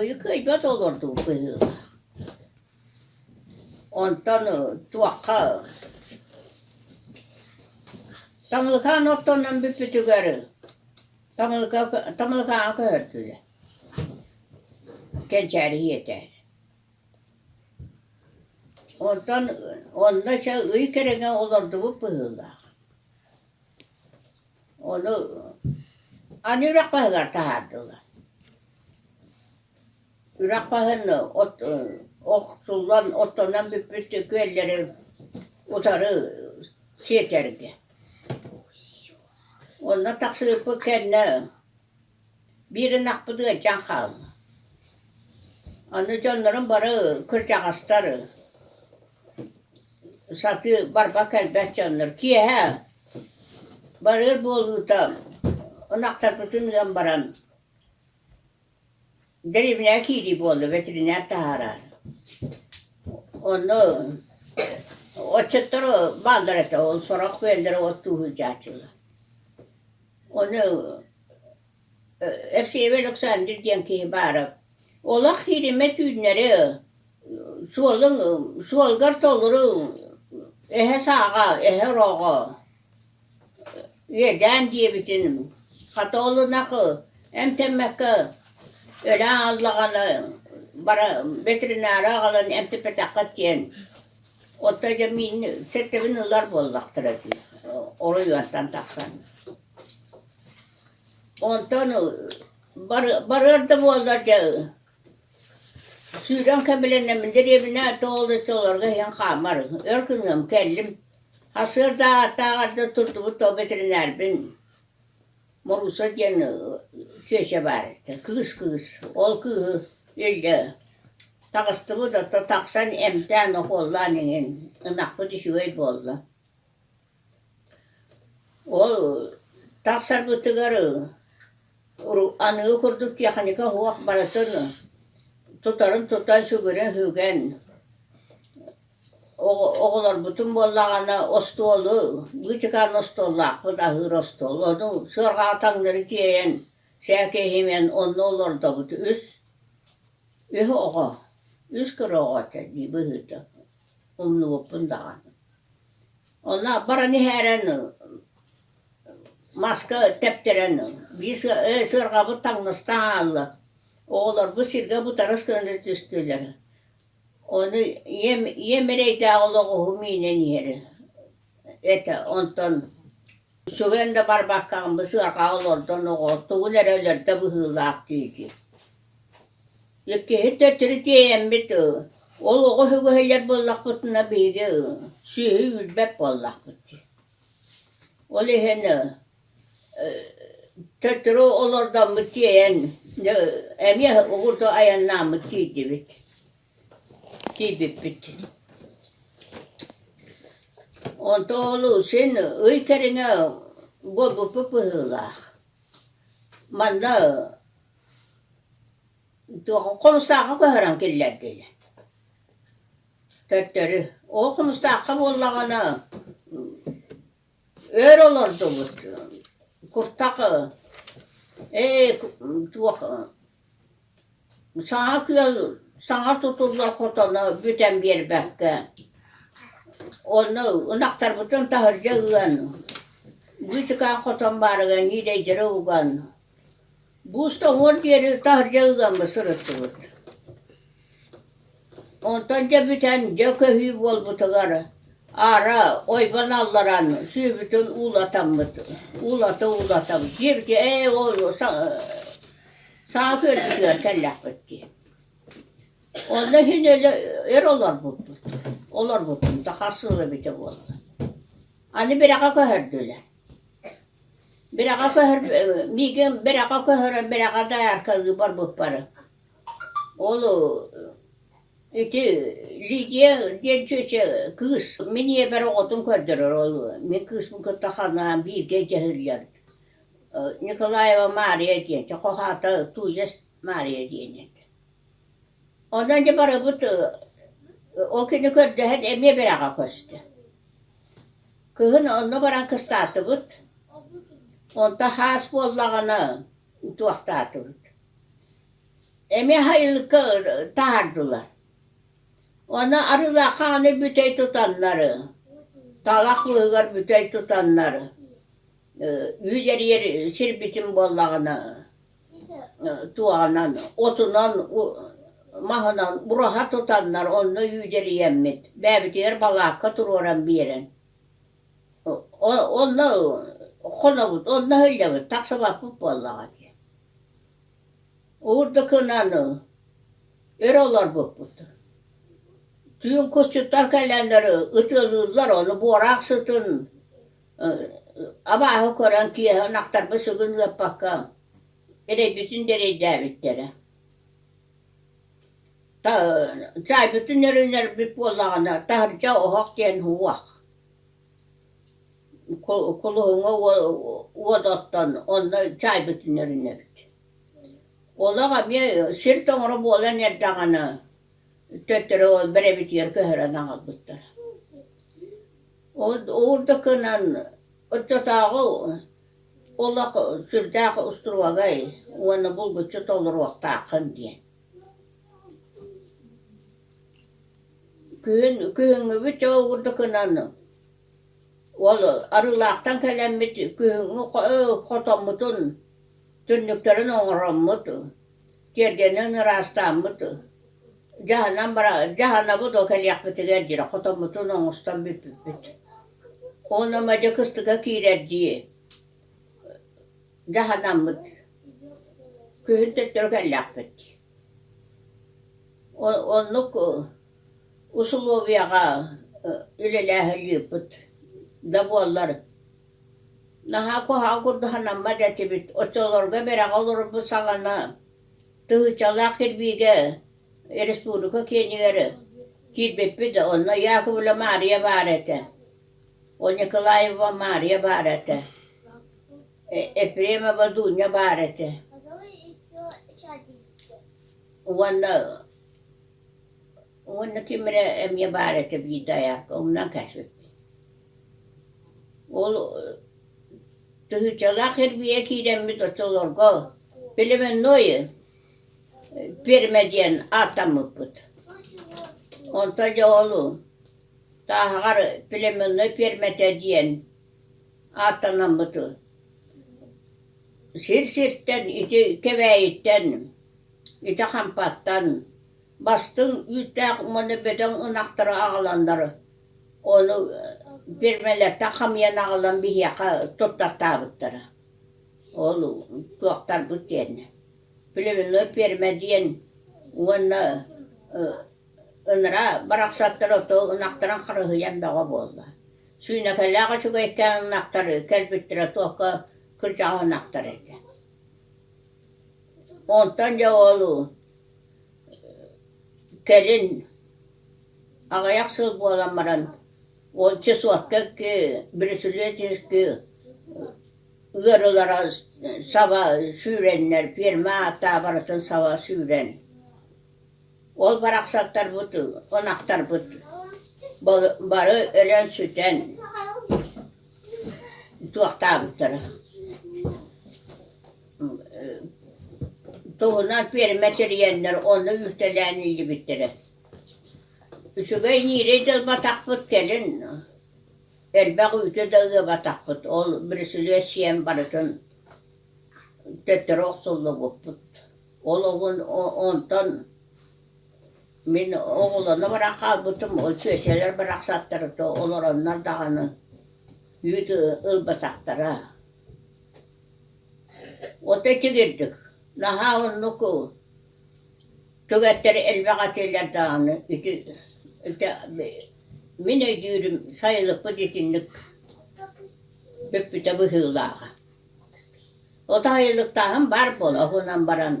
Ыйыкыайбат олордуу быһыылаах. Онтон туохха Таҥылыкаан оттонон бүппүтүгэр Таҥылыка Таҥылыкааҕа көһөрдүлэр. Кэнчээри ийэтэ. Онтон онно ыча ый кэриҥэ олордубут быһыылаах. Ону аны үрэх баһыгар таһаардылар. Үрэх баһын от охсуллан оттонон бүппүт күөллэри утары сиэтэргэ. Онно тахсыбыппыт кэннэ Биир ынахпыт ыалдьан хаалла, аны дьоннорум бары кырдьаҕастар сатыы барба кэлбэт дьоннор, киэһэ барыар буолуута ынахтарбытын ыан баран Дэриэбинэҕэ киирии буолла, бэтэринээр таһаараар. Онно отчуттар бааллар этэ, ол сорох күөллэрэ оттуу сылдьааччылар. Ону Евсеев Александр диэн киһи баара, олох киириммэт түүннэри суолун суолгар толору эһэ сааҕа, эһэ ороҕо Үөдээн диэбитин хата олунахы эмтэммэккэ өлөөн ааллаҕына бара ветеринара аҕалан эмтиппэтэххэ диэн оттон дьэ миин сэртэбин ылар буоллахтара дии оройуонтан тахсан онтон бары барыар да буоллар дьэ сүүрэн кэбилэннэммин дэриэбинэ тоҕо олорго иһэн хаамар өр гыныам кэллим Арсыардааҕыттааҕарга турдубут то бэтэринээрбин Морууса диэн чүөчэ баар кыыс кыыс ол кыыһы илдьэ таҕыстыбыт ото тахсан эмтээн укуоллаан иҥин ынахпыт үчүгэй буолла ол тахсарбытыгар аныгы курдук техника суох барытын тутарын тутан сүгүрэн сүгэн оҕолорбутун буоллаҕына остуолу быычыкаан остуоллаахпыт аһыыр остуол ону сыарҕаҕа таҥнары тиэйэн сээкэйимэн онно олордобут үс үс оҕо үс кыра оҕо этэ дии быһыыта умнубуппун даҕаны. Онно баран иһээрэн маска тэптэрэн биир сыарҕабыт таҥнастаан аалла. Оҕолорбут сиргэ бутарыс гына түстүлэр. Ону ийэм, ийэм эрэйдээх олох уһум иинэн иһэр этэ. Онтон сүгэн да барбаккаҕын бу сыарҕаҕа олордон оҕо тугун эрэ өлөрдө быһыылаах диэки Иккиһин төттөрү тиэйэммит ыы, ол оҕо өһүгөһүйэр буоллахпытына биһиги ыы, сүөһү үүрбэт буоллахпыт дии. Ол иһин ыы төттөрү олордоммут тиэйэн эмиэ угурду айаннааммыт тиийдибит, тиийбиппит. Онтооҕу син ый кэриҥэ буолбуппут быһыылаах. Манна Хомустаахха көһөрөн киллэрдилэр. Төттөрү. Оо, хомустаахха буоллаҕына өөр олордубут. Куртах ээ туох саҥа күөл саҥа тутуллар хотону бүтэн биэрбэккэ онно ынахтарбытын таһырдьа ыан быычыкаан хотон баарыгар нидэйдэрэ уган Бууста уһун диэри таһырдьа ыыаммы сырыттыбыт онтон дьэ бүтэн дьэ көһүү буолбутугар аара ойбон алларан сүүбүтүн уулатаммыт уулата уулата дьиэбитигэр ээ оҕуруо саҥа күөлбүтүгэр кэллэхпит дии онно иһин өр олорбуппут олорбуппун да харсыла эбитэ буолла аны бэрэҕэ көһөрдүлэр Бэрэҕэ көһөр миигин бэрэҕэ көһөрөн бэрэҕэ дояркалыы барбыппары. Ол ити Лидия диэн чүөчэ кыыс мин ийэбэр оҕотун көрдөрөр ол мин кыыспын кытта ханаан бииргэ дьаһыыллар Николаева Мария диэн, хоһаата Тузес Мария диэн Онно инде барыбыт ол күнү көрдөһөн эмиэ бэрэҕэ көстө. Кыһын онно баран кыстаатыбыт, онтон хаас буоллаҕына утуохтаатыбыт. Эмиэ сайылыкка таһаардылар. Онно Арыылаахха аны бүтэй тутаннары, талах быыһыгар бүтэй тутаннары үүт эрийэр сир бүтүн буоллаҕына туоһанан, отунан, маһынан бураһа тутаннар онно үүдэрийэммит. Бээбитигэр балаакка туруоран биэрэн, онно хонобут, онно иһиллэбит, тахсыбаппыт буоллаҕа дии. Уурдукунан өрө олорбуппут. Түүн кусчуттар кэлэннэр ытыалыыллар, ону буораах сытын Абааһы көрөн киэһэ ынахтарбыт сыгын ыаппакка эрэйбитин да эрэйдээбиттэрэ чаайбытын эрэнэрбит буоллаҕына таһырдьа оһох диэн уох кулуһуҥҥа уодаттан онно чаайбытын эрэнэбит олох эмиэ сир тоҥоро буолан эрдэҕинэ төттөрү олбор эбитигэр көһөрөн аҕалбыттар Ол да гынан оччотооҕу олох сүрдээх устуруогай уонна булгуччу толоруохтааххын диэн Күһүн күһүҥҥүбүт дьэ ол курдук гынан ол Арыылаахтан кэлэммит күһүҥҥү хотоммутун түннүктэрин оҥороммут Тиэргэнинэн ыраастааммыт дьаһанан бара дьаһанабыт ол кэлиэхпитигэр диэри хотоммутун оҥостон бүппүппүт уонна мадьа кыстыкка киирэр дии дьаһанаммыт күһүн төттөрү кэллээхпит оннук усулуобуйаҕа үлэлээһин ыыппыт да буоллар Наһаа куһаҕан курдук санаммат этибит, оччолорго бэрэҕэ олорорбут саҕана тыһыычалаах кирбиигэ республика киинигэр киирбиппит, онно Яковлева Маарыйа баар этэ, ол Николаева Маарыйа баар этэ, Ефремова Дуня баар этэ уонна Уонна тимирэ эмиэ баар этэ биир дайаакка, оннуган кээспиппин. Ол тыһыычалаах эрбийэ киирэммит оччолорго племенное пиэрмэ диэн ааттаммыппыт. Онтон дьэ ол тааһаҕар племенной пиэрмэтэ диэн ааттанаммыты. Сир сиртэн, ити Кэбээйиттэн, ити Хампаттан Бастыҥ үүттээх уонна бөдөҥ ынахтары аҕаланнар ону пиэрмэлэртэн хамыйан аҕалан биһиэхэ туттартаабыттара. Ол туохтарбыт диэннэ племенной пиэрмэ диэн уонна ыныраа барахсаттар оттон ынахтарын харыһыйан бөҕө буолла. Сүүнэкэлээх үчүгэйкээн ынахтар кэлбиттэрэ туохха кырдьаҕас ынахтар этэ. Онтон дьэ ол Кэлин аҕыйах сыл буолан баран уонча суокка бреслетишки ыарыылара саба сүүрэннэр ферма ааттаабарытын саба сүүрэн ол барахсаттарбыт ынахтарбыт бары өлөн сүтэн туохтаабыттара туһунан пиэрмэ тэрийэннэр онно үүртэлээн иилибиттэрэ үчүгэй ниирэй да ылбатахпыт кэлин элбэх үүтү да ыабатахпыт ол бүрүсүлүө сиэн барытын төттөрү охсуллубуппут ол оҕун онтон мин оҕолоно баран хаалбытым ол сүөсэлэр барахсаттары олороннор даҕаны үүт ылбатахтара Ото тигирдик, наһаа оннуку, түгэттэри элбэх атыылар даҕаны ити ити мин өйдүүрүм сайылыкпыт итинник бүппүтэ быһыылааҕа. Ото сайылыктааһын баар буолуо, уһунан баран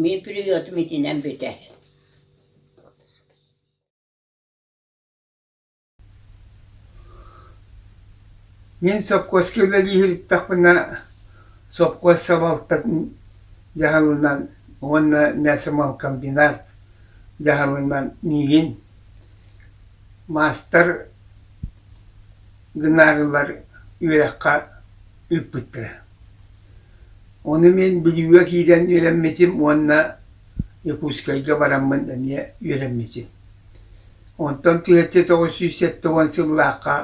мин периодум итинэн бүтэр Мин сопхуоска үлэлиир эттэхпинэ, сопхуос салалтатын дьаһалынан уонна мясомолкомбинат дьаһалынан миигин маастар гынаарылар үөрэххэ ыыппыттара. Ону мин Бүлүүгэ киирэн үөрэммитим уонна Якутскайга бараммын эмиэ үөрэммитим. Онтон тыһыынча тоҕус сүүс сэттэ уон сыллаахха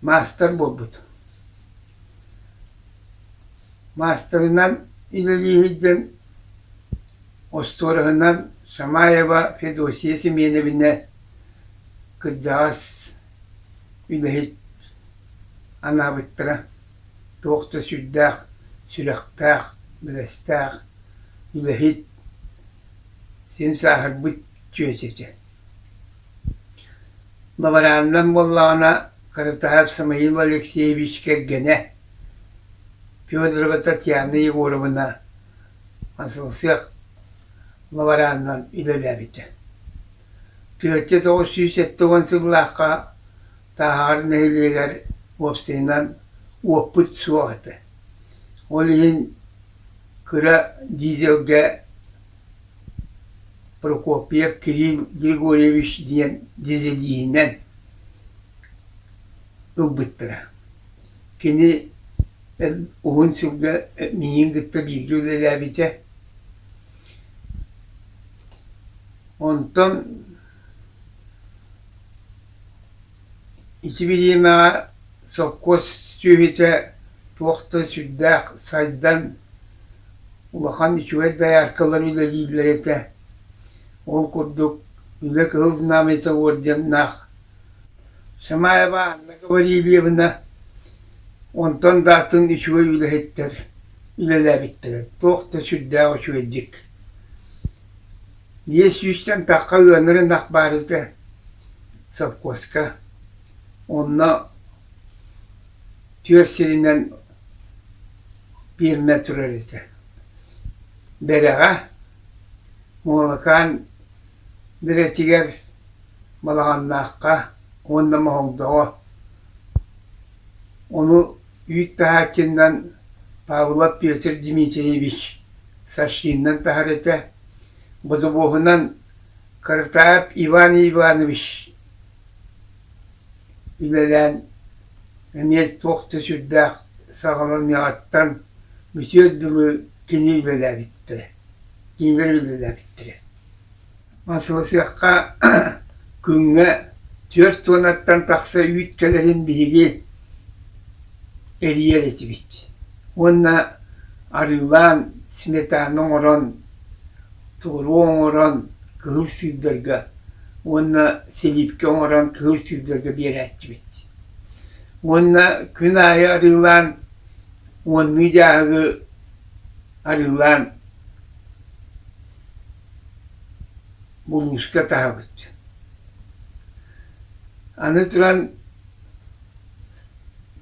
маастар буолбут. Маастарынан үлэлииһирдэн, остуораһынан Шамаева Федосия Семеновна кырдьаҕас үлэһит анаабыттара туох да сүрдээх сүрэхтээх, бэрэстээх үлэһит Син сааһырбыт чүөс этэ. Бабарааннан буоллаҕына, Кырытаһап Самаил Алексеевич кэргэнэ Федорова Татьяна Егоровна Асылсыах бабараанынан үлэлээбитэ. Тыочча тоҕус сүүс сэттэ уон сыллаахха Тааһаҕар нэһилиэгэр уопсайынан уоппут суох этэ. Ол иһин Кыра Дизельгэ Прокопьев Кирилл Григорьевич диэн дизелиһинэн ылбыттара. Кини уһун сылга миигин кытта бииргэ үлэлээбитэ. Онтон Ичибириэмэҕэ сопхуос сүөһүтэ туох да сүрдээх сайдан, улахан үчүгэй дояркалар үлэлииллэр этэ. Ол курдук Үлэ Кыһыл Знамята орденнаах Шамаева Анна Гаврильевна онтон да атын үчүгэй үлэһиттэр үлэлээбиттэрэ туох да сүрдээх үчүгэйдик Ийэ сүүстэн тахха ыанырын ах баарыта сопхуоска, онно түөрт сиринэн пиэрмэ турар этэ. Бэрэҕэ Муолакаан Бэрэтигэр, Балаҕаннаахха уонна Моһолдоҕо Ону ииттаһааччыннан Павлов Петр Дмитриевич Сашиннан таһар этэ, бодобуоһунан Кыртаап Иван Иванович үлэлээн эмиэ туох да сүрдээх саҕаланыаҕыттан бүтүөр дылы кини үлэлээбиттэрэ, кинилэр үлэлээбиттэрэ Мосвосехха күҥҥэ түөрт уонаттан тахса үүт кэлэрин биһиги эрийэр этибит уонна арыылаан сметаны оҥорон туору оҥорон кыһыл сыырдарга уонна силиипкэ оҥорон кыһыл сыырдарга биэрээччибит уонна күн аайы арыылаан уоннуу дьааһыгы арыылаан муҥуска таһабыт. Аны туран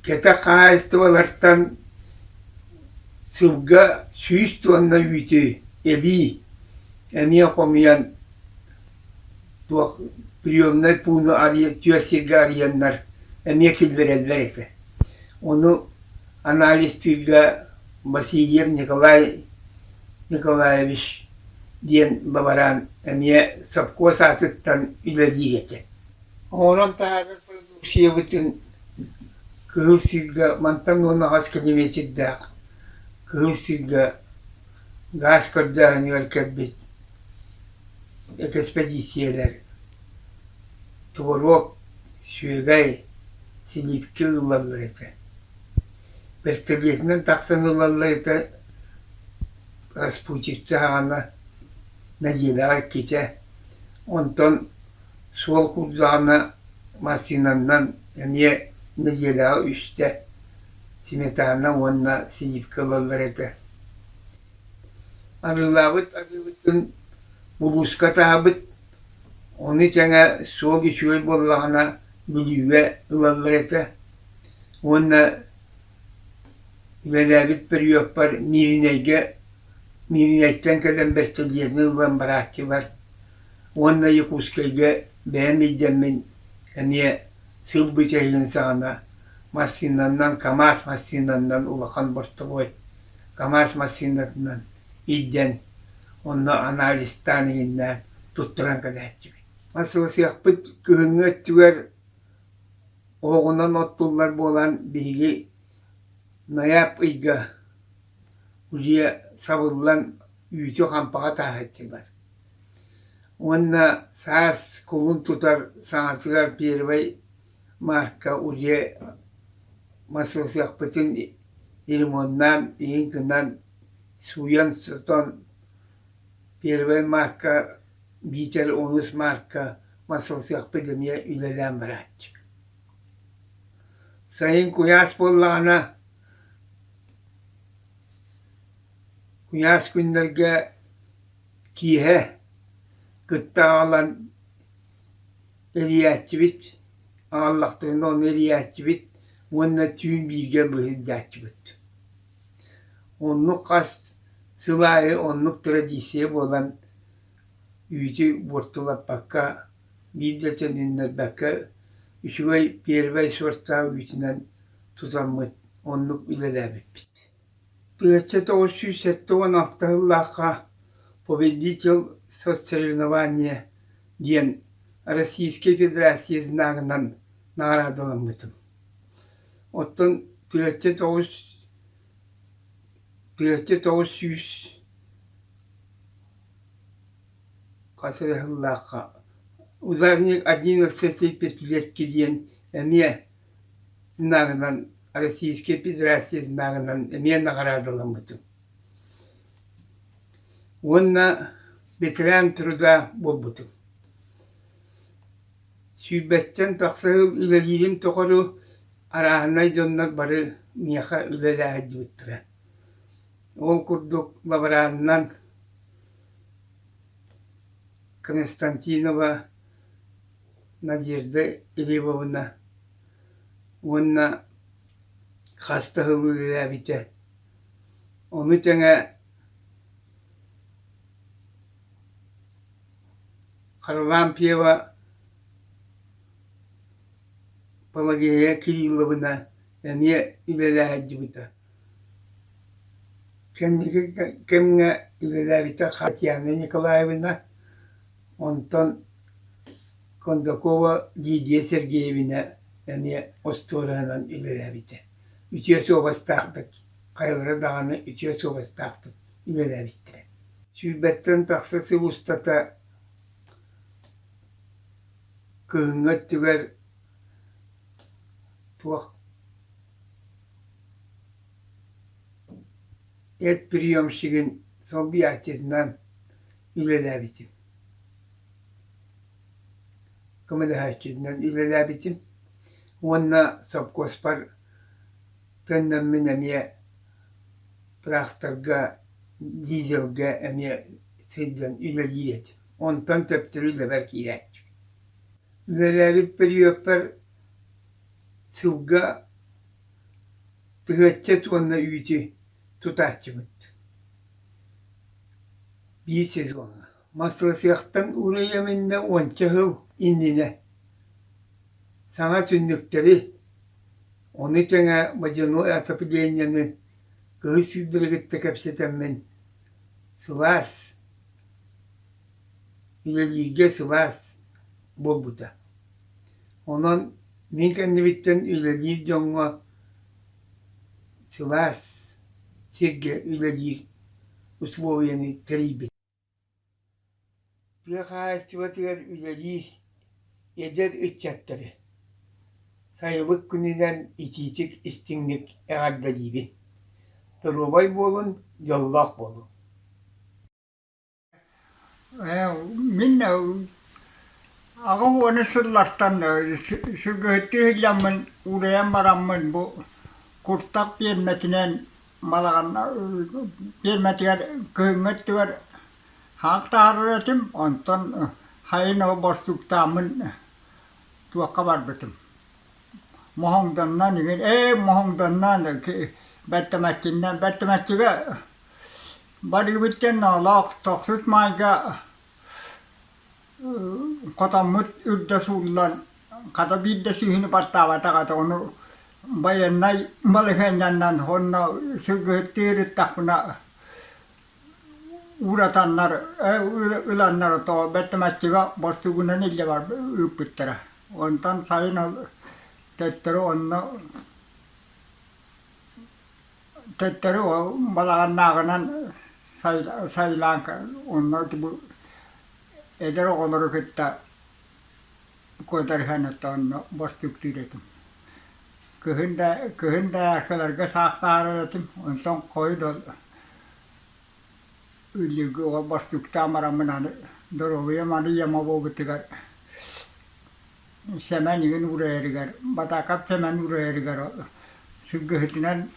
кэтэх хаһаайыстыбалартан сылга сүүс туонна үүтү эбии эмиэ хомуйан туох приемнай пууну арыйа, түөрт сиргэ арыйаннар эмиэ киллэрэллэр этэ. Ону анализтыырга Васильев Николай Николаевич диэн бабараан эмиэ сопхуос аатыттан үлэлии этэ. Оҥорон таһаарар продукциябытын Кыһыл Сиргэ мантан уонна хас километрдаах Кыһыл Сиргэ гаас көрдөөһүнүгэр кэлбит экспедициялар, туоруок Сүөгэй силиипкэ ыллаллар этэ, бэстилиэтинэн тахсан ыллаллар этэ, распутчица аҕана Надеждаҕа иккитэ, онтон суол курдааҕына массыынаннан эмиэ Надеждаҕа үстэ, сметана уонна силиипкэ ылаллар этэ. Арыылаабыт арыыбытын булууска таһаабыт Ону тэҥэ суол үчүгэй буоллаҕына бүлүүгэ ылаллар этэ уонна үлэлээбит периоппар Мииринэйгэ Мииринэйтэн кэлэн бэстилиэтин ылан барааччылар уонна Якутскайга бэйэм илдэммин эмиэ сыл бычайын саҕана массыынанан КАМАЗ массыынанан улахан бортовой КАМАЗ массыынатынан илдьэн, онно анализтаан иһиннээн туттаран кэбиһэччибит. Ансыласыахпыт кыһыҥҥы өттүгэр оһоҕунан оттуллар буолан, биһиги найаап ыйга кулье сабыллан үүтү хампаҕа тааһаччылар. Уонна саас кулун тутар саҥатыгар первый марка улье массыылсыахпытын ремоннаан, иһин гынан сууйан сотон, первай маарка, биитэр онус маарка мас ылсыахпыт эмиэ үлэлээн барааччы. Сайын куйаас буоллаҕына, куйаас күннэргэ киэһэ кытта аҕалан эрийээччибит, аҕаллахтарына ону эрийээччибит уонна түүн бииргэ быһыырдааччыбыт Оннук хас сыл аайы оннук традиция буолан үүтү буортулаппакка, биир да төнүннэрбэккэ үчүгэй первэй сорттаах үүтүнэн тутаммыт, оннук үлэлээбиппит. Тыһыынча тоҕус сүүс сэттэ уон алта сыллаахха «Победитель сосоревнования» диэн Российскай Федерация знагынан наҕараадаламмытым. Оттон Плетчэ тоҕус Плетчэ тоҕус сүүс хас эрэ сыллаахха ударник один диэн эмиэ знагынан Российская Федерация знагынан эмиэ наҕараадаламмытым уонна ветеран труда буолбутум Сүүрбэстэн тахса сыл үлэлиирим тухары арааһынай дьоннор бары миэхэ үлэлээһэрдибиттэрэ. Ол курдук лаборанынан Константинова Надежда Глебовна уонна хас да сыл үлэлээбитэ. Ону тэҥэ Харлампьева Пелагея Кирилловна эмиэ үлэлээһиндьибитэ кэнники кэмҥэ үлэлээбитэ Татьяна Николаевна онтон Кондакова Лидия Сергеевна эмиэ остуораынан үлэлээбитэ үтүө суобастаахтык хайалара даҕаны үтүө суобастаахтык үлэлээбиттэрэ. Сүүрбэттэн тахса сыл устата кыһыҥҥы өттүгэр туох эт приемщигын солбуйааччытынан үлэлээбитим. көмөлөһөөччүнэн үлэлээбитим уонна сопхуоспар Төннөммүн эмиэ тыраахтарга, дизельгэ эмиэ сылдьан үлэлиир этим. Онтон төптөрү үлэбэр киирээччим. Үлэлээбит периодпар сылга тыһыачча уонна үүтү тутааччыбыт. Биир сезоҥҥа. Массыасыахтан уурайа миннэ уонча сыл иннинэ саҥа түннүктэри, ону тэҥэ водяной отоплениены кыһыл сиирдэри кытта кэпсэтэммин, сылаас, үлэлииргэ сылаас буолбута. Онон мин кэннибиттэн үлэлиир дьоҥҥо сылаас сиргэ үлэлиир условиены тэрийбитим. Тыа хаһаайыстыбатыгар үлэлиир эдэр ыччатары сайылык күнүнэн итиитик, истиҥник эҕэрдэлиибин! Доруобай буолун, дьоллоох буолун! Мин аҕа уона сыллартан сылгыһыттыы иһиллэммин, уурайан бараммын бу куртах пиэрмэтинэн Балаҕанна тиэмэтигэр күһүҥҥү өттүгэр хаал таһаарар этим, онтон хайын ол боростууктааммын туохха барбытым. Моһоҥдоннон игин ээ моһоҥдонноон бэртэмэччиннэ бэртэмэччигэ барыыбыт диэн оҕолоох тохсут маайга хотоммут үрдэ сууллан хата биирдэ сүүһүнү бартаабатах этэ ону байыаннай балаһыанньанан уонна сылгыһыттыы ырыттахпына ууратаннар ыланнар отоо бэртэмэччигэ борсугунан илдьэ ыыппыттара онтон сайын ол төттөрү онно Төттөрү ол балаҕаннааҕынан сайылаан онно эдэр оҕолору кытта куотарыһан оттон онно бостуктуур этим. Кыһын да кыһын да айаккаларга саахтаһар этим онтон хойут ол үллүргү ол бостуктаан бараммын аны доруобуйам аны яма буолбутугар Сэмэн игин уурайарыгар, Батаакап Сэмэн уурайарыгар сылгыһытынан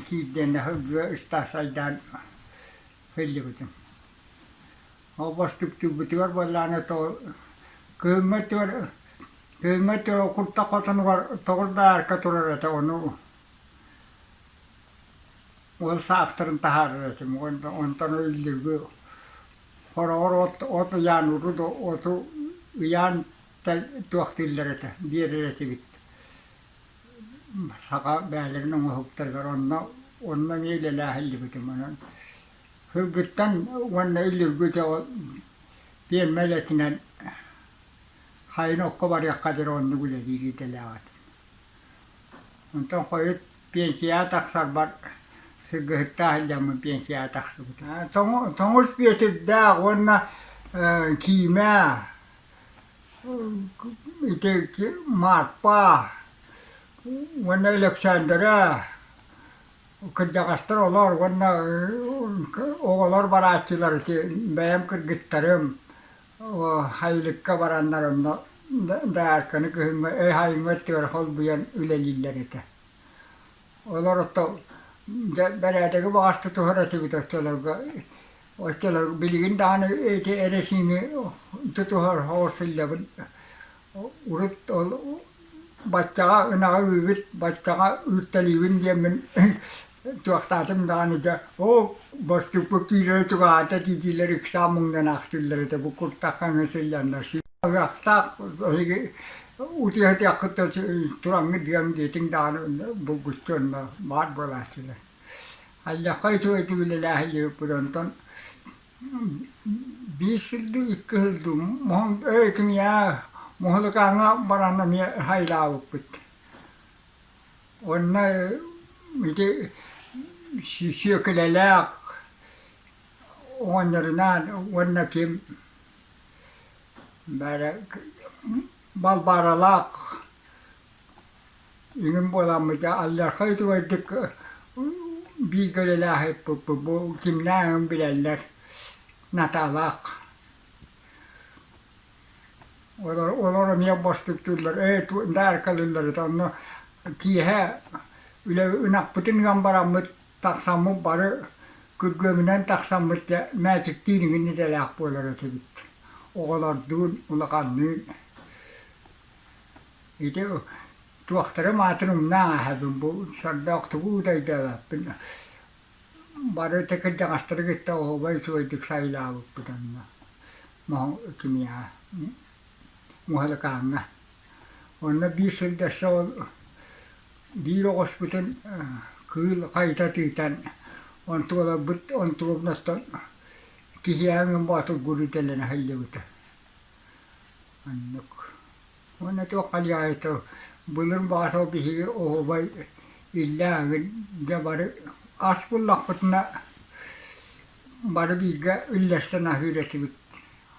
киирдиэн да сылгыга ыстаас айдаан сылдьыбытым. Ол бостуктуурбутугар буоллааны того кыыммытыгар кыыммытыгар куртах хотонугар тогурдаарка турар этэ ону Уол саастарын таһаарар этим уонна онтон иллирги хороҕор от от ыйаан урут оту ыйаан туохтииллар этэ биэрэр этибит саха бэйэлэрин оҥоһуктарыгар онно онно эмиэ үлэлээһиллибитим онон сылгыттан уонна иллирги дьоҕо пиэрмэ үлэтинэн хайын окко барыахха диэри оннук үлэлиир идэлээх этим онтон хойут пенсияҕа тахсарбар сылгыһыттаах сылдьаммын пенсияҕа тахсыбыта. Тоҥус Бүөтүрдээх уонна Киимэ, ити Марпа уонна Өлөксөөндөрө кырдьаҕастар олоор уонна оҕолор барааччылар ити бэйэм кыргыттарым Айылыкка бараннар онно даарканы күһүҥҥэ өй-хаайыҥҥа өттүгэр холбуйан үлэлииллэр этэ. Олор ото бэрээдэги баҕас тутуһар этибит оччолорго оччолор билигин даҕаны эрэсиими тутуһар оҕо сылдьабын урут ол баччаҕа ынаҕы үүбүт баччаҕа ыытталыыбын диэммин туохтаатым даҕаны дьэ оо боччукпут киирэрэ чугаһаата диитиилэр ыксаан муҥнанаахтыыллар этэ бу куртаххаҥҥа сылльаннар аҕыахтаах эһиги утуйатыаххыт да тураҥҥыт диэм диэтиҥ даҕаны булгуччу онно баар буолааччылар аллахха үчүгэйдик үлэлээһилиэбиппит онтон Биир сиргэ икки ыһыллыбыт муһун эбэтин я муһулукааҥҥа баран эмиэ айылаабыппыт. Уонна ити сүөкүлэлээх оҕонньорунаан уонна ким бары Балбааралаах Эҥин буоламмыта алларха үчүгэйдик бииргэ үлэлээхиппиппит бу кимнээх эҥин билэллэр Наталаах олор олор эмиэ бостуктууллар ээ ту даарыкалыылларыт онно киэһэ үлэ ынахпытын ыан бараммыт тахсаммыт бары күргүөмүнэн тахсаммыт дьэ мээчиктиин игин идэлээх буолар этибит оҕолордуун улаханныын Ити туохтарым аатын умнан ааһабын бу сордоох тугу уудайдаабаппын бары ити кырдьаҕастары кытта оһуобай үчүгэйдик сайылаабыппыт онно кимиэхэ муһалыкааҥҥа онно биир сирдэссе ол биир оҕуспутун кыыл хайыта тыытан онтуоларбыт онтуолунуттан киһиэхэ боотургуур идэлэнэ сылдьыбыта Оннук. Уонна туох хайаайытал былыр Баасал биһиги оһуобай иллээҕин дьэ бары ас буллахпытына бары бииргэ үллэстэн аһыыр этибит.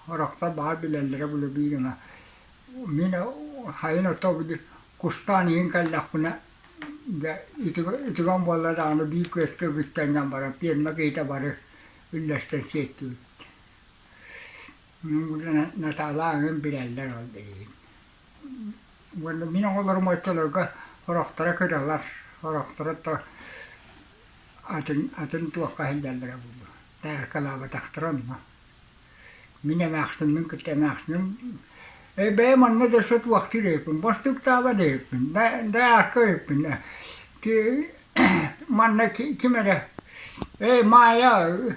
Орохтор баҕар билэллэрэ буолуо биир эмэ. Мин хайын отоо били кустаан иһин кэллэхпинэ дьэ үтүгү- үтүгэн буолла даҕаны биир күөскэ бүттэн баран пиэрмэ киһитэ бары үллэстэн сиэттибит. Натаала аҕам билэллэр ол билигин. Уонна мин оҕолорум оччолорго орохторо кыралар, орохторо то атын атын туохха сылдьаллара буолуо. Тааркалаабатахтара онно. Мин эмээхсиммин кытта эмээхсиним "Ээ бэйэм онно да сытыахтыыр эбиппин, бостуктаабат эбиппин, да дайаарка эбиппин ээ, ки манна ким эрэ, "Ээ Маайа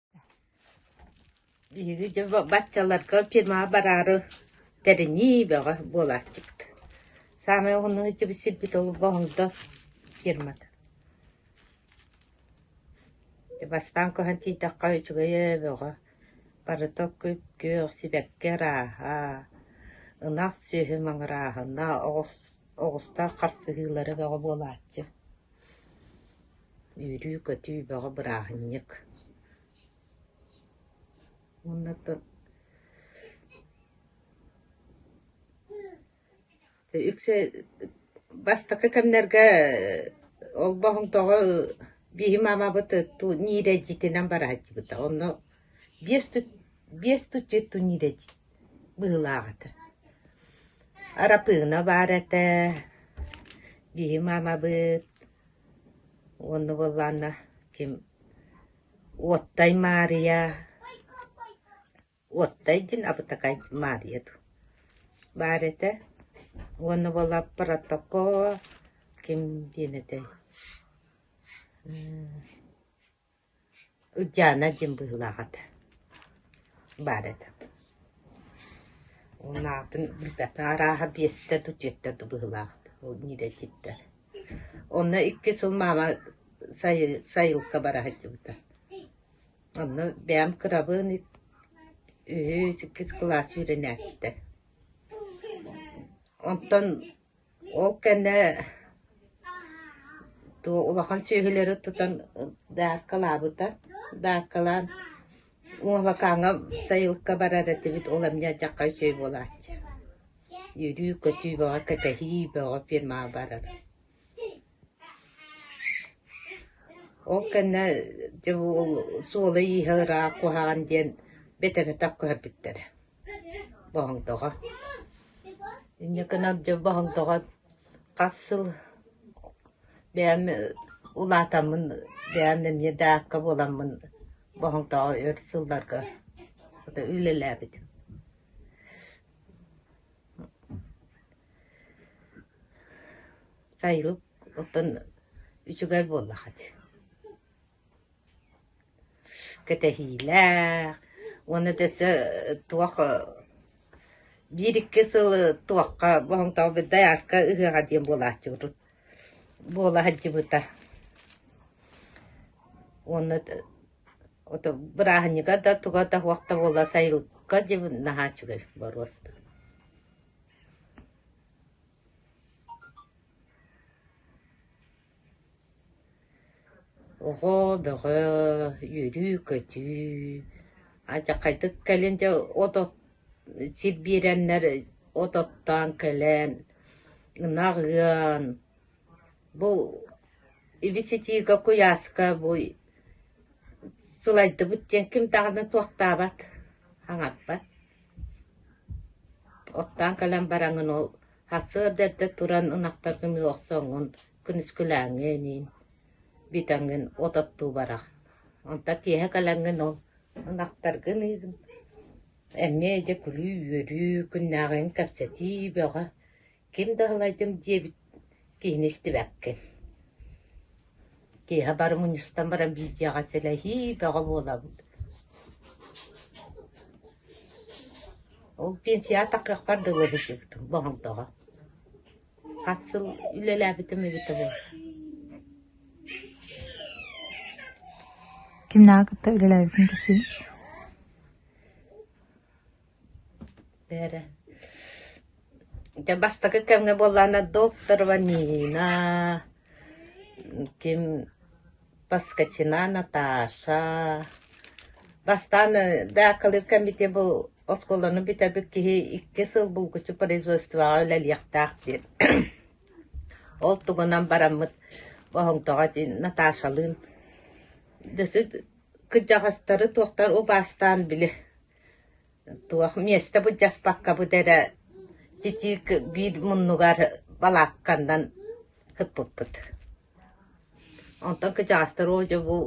Биһиги дьэ баччаларга фермаҕа бараары тэринии бөҕө буолааччыт. Саамай уһунну сылдьыбыт сирбит ол Боһоҥдо фермата. Бастаан көһөн тиийдэххэ үчүгэйэ бөҕө. Барыта күп-күөх, сибэкки арааһа, ынах сүөһү маҥырааһына, оҕус оҕустар харсыһыылара бөҕө буолааччы. Үүрүү-көтүү бөҕө бырааһынньык. Уонна үксэ бастакы кэмнэргэ олбоһуҥ тоҕо бииһи маамабыт ниирэ дьитинэн барааччыбыта онно Биэс тутьету нирэдий быһыылаах этэ Арапыына баар этэ дьиһи маамабыт уонна буоллаанна ким Уоттай Маарыйа Уоттай диэн абытакай Маарыйа дуу баар этэ уонна буолла Протокоо ким диэн этэй Диана диэн быһыылаах этэ, баар этэ. Уонна атын билбэппин арааһа биэстэр да түөттэр да быһыылаах ол ньирэтиттэр. Онно икки сыл маама сайы- сайылыкка бара сылдьыбыта. Онно бэйэм кырабын үһүс, иккис кылаас үөрэнээччитэ. Онтон Ол кэннэ туу улахан сүөһүлэри тутан дааркалаабыта. Дааркалаан Муолакааҥҥа сайылыкка барар этибит, ол эмиэ дьахха үчүгэй буолааччы. Үөрүү-көтүү бөҕө, кэтэһии бөҕө фирмаҕа барар. Ол кэннэ дьэ бу суола-ииһэ ыраах куһаҕан диэн бэтэрэтэх көһөрбүттэрэ. Боһоҥтоҕо. Инньэкэнэн дьэ Боһоҥтоҕо хас сыл бэйэм улаатаммын, бэйэм эмиэ даакка буоламмын Боһоҥтоҕо өр сылларга хата үлэлээбитим. Сайылык оттон үчүгэй буоллаҕа дии. Кэтэһиилээх уонна өтө өссө туох биир-икки сыл туохха боһоҥтообут доярка ыһыаҕа диэн буолааччыбыт буола сылдьыбыта уонна ото бырааһынньыга да туга да туох да буолла сайылыкка дьэ наһаа үчүгэй боруос Оҕо бөҕө үөрүү-көтүү, алдьархайдык кэлин дьэ от от сир биэрэннэр от оттоон кэлэн, ынах ыан, бу ибиситиигэ, куйааска бу сылайдыбыт диэн ким даҕаны туохтаабат, хаҥарбат. Оттоон кэлэн бараҥын ол Сарсыарда эрдэ туран ынахтар көмүһэ охсоҥҥун, күнүскүлээҥҥэ эниин, битаҥҥын от оттуу бараҕын. Онтон киэһэ кэлэҥҥин ол ынахтаргын ииһин, эмиэ дьэ күлүү-үөрүү, күннээҕиҥ кэпсэтии бөҕө, ким да салайдым диэбит киһини истибэккин Киэһэ бары мунньустан баран видеоҕа сэлэһии бөҕө буолабыт Ол пенсияҕа такыахпар дылы сылдьыбытым боһолдоҕо. Хас сыл үлэлээбитим эбитэ буолар Ким наҕа кытта үлэлээбитин кэсиин Бээрэ, дьэ бастакы кэмҥэ буоллаҕына докторова Нина, ким Поскачина Наташа, бастаан ДАК-лыыр кэммитигэр бу оскуоланы бүтэрбит киһи икки сыл булгуччу производствоҕа үлэлиэхтээх диэн. Ол тугунан бараммыт боһоҥтоҕо диэн Наташалыын дьэ кырдьаҕастары туохтар убаастаан били Туох миэстэ былдьаспаккабыт эрэ титиик биир муннугар балаакканнан ыппыппыт. Онтон кычаастар оо дьэ бу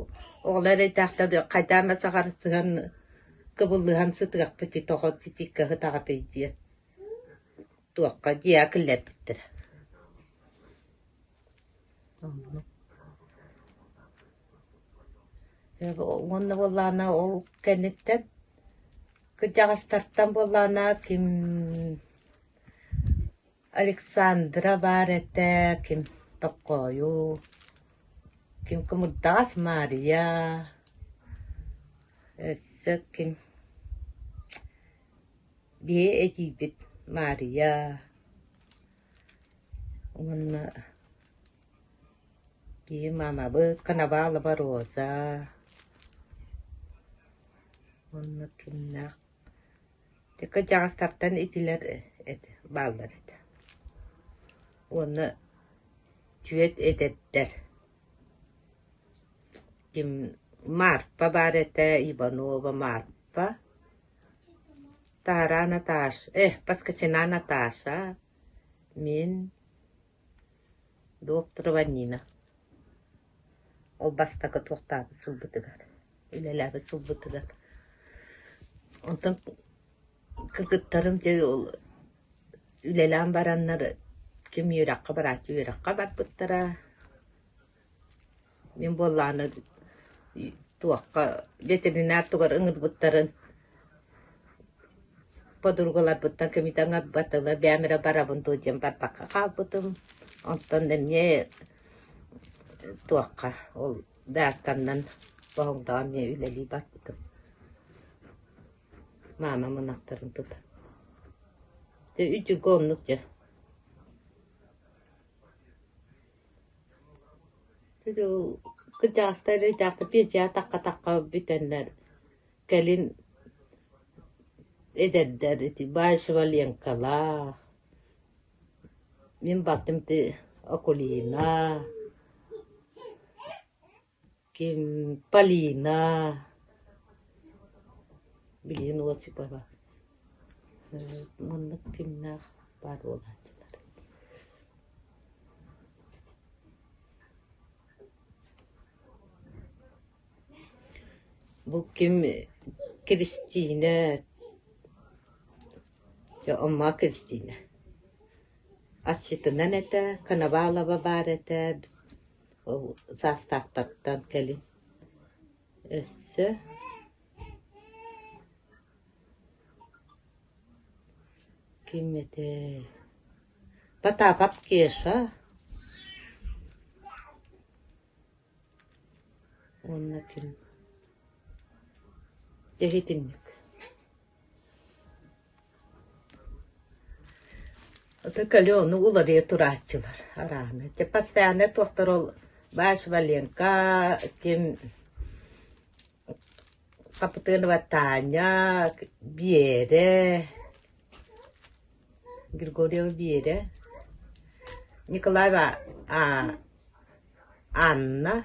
оҕолор эрэйдээхтэр хайдаан эмэ саҕарсыһан кыбыллыһан сытыахпыт ити тоҕо титииккэ ытаҕытый диэн туохха дьиэ киллэрбиттэр уонна буоллаҕына ол кэнниттэн кырдьаҕастартан буоллаҕына ким Александра баар этэ ким Токкойу ким Кымырдаҕас Маарыйа өссө ким Биһи этиибит Маарыйа уонна биһи маамабыт Канабалова Роза уонна кимнээх кырдьаҕастартан итилэр эт бааллар этэ уонна түөт эдэрдэр ким Марпа баар этэ Иванова Марпа Таараа Наташ, э, Поскачина Наташа, мин докторова Нина. Ол бастакы туохтаабыт сылбытыгар, үлэлээбит сылбытыгар. Онтон кыргыттарым дьэ үлэлээн бараннар ким үөрэххэ барааччы үөрэххэ барбыттара. Мин буоллаҕына туохха ветеринар тугар ыҥырбыттарын подругаларбыттан кэмитэ ыҥырбат ыла бэйэм эрэ барабын дуо диэн барбакка хаалбытым. Онтон эмиэ туохха ол даакканнан боһуҥдаҕа эмиэ үлэлии барбытым. Маамам ынахтарын тута. Дьэ, үчүгэй оннук дьэ. Кырдьаҕастар итэҕэтэ атахха-атахха бүтэннэр кэлин эдэрдэр ити Баишева Ленкалаах, мин балтым ити Акулина Полина, билигин Осипова, маннык кимнээх баар буолааччылар Бу ким Кристина Омма Кристина. Аччытынан этэ, Коновалова баар этэ Ол саастаахтартан кэлин өссө ким этэ Потапов Кеша уонна ким дьэ итинник Аты калену уларыйа турааччылар арааны. Чэ постоянно туохтар ол Бааш Валенка, ким Хапытыынова Таня, Биэрэ, Григорьева Биэрэ, Николаева а Анна.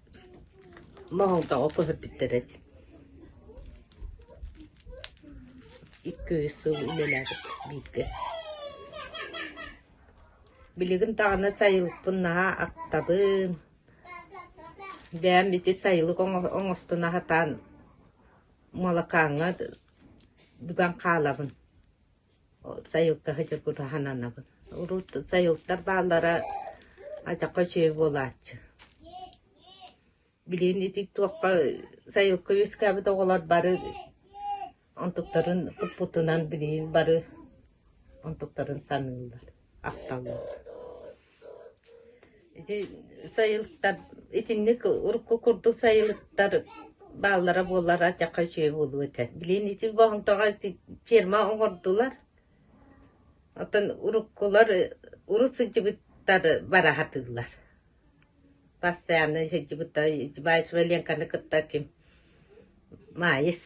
Моһолтоҕо көһүппүттэр эт икки үс сыл үлэлээбит бииргэ. Билигин даҕаны сайылыкпын наһаа актабын, бэйэм ити сайылык оҥо- оҥостон аһатан, молокаҥҥа быган хаалабын. сайылкаһы дьокутаһан анабын. Урут сайылктар бааллара ачахха үчүгэй буолааччы. Билигин ити туохха сайылка үөскээбит оҕолор бары онтуктарын туппутунан билигин бары онтуктарын саныыллар, ахталлар Ити сайылыктар итинник урукку курдук сайылыктар бааллара буоллар атьахха үчүгэй буолуо этэ. Билигин ити боһомтоҕо ити ферма оҥордулар. Оттон уруккулар урут сылдьыбыттар бара сатыыллар. Постоянно сылдьыбыттар. Валенканы кытта ким Маайыс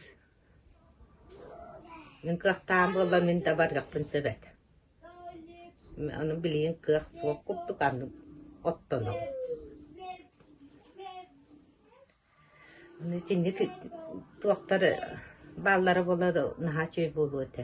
Мин кыахтаах буоллар мин дабарыахпын сөбөт. Ону билигин кыах суох курдук аны оттоноҕум. Аны итинник туохтар бааллара буоллар наһаа үчүгэй буолуо этэ.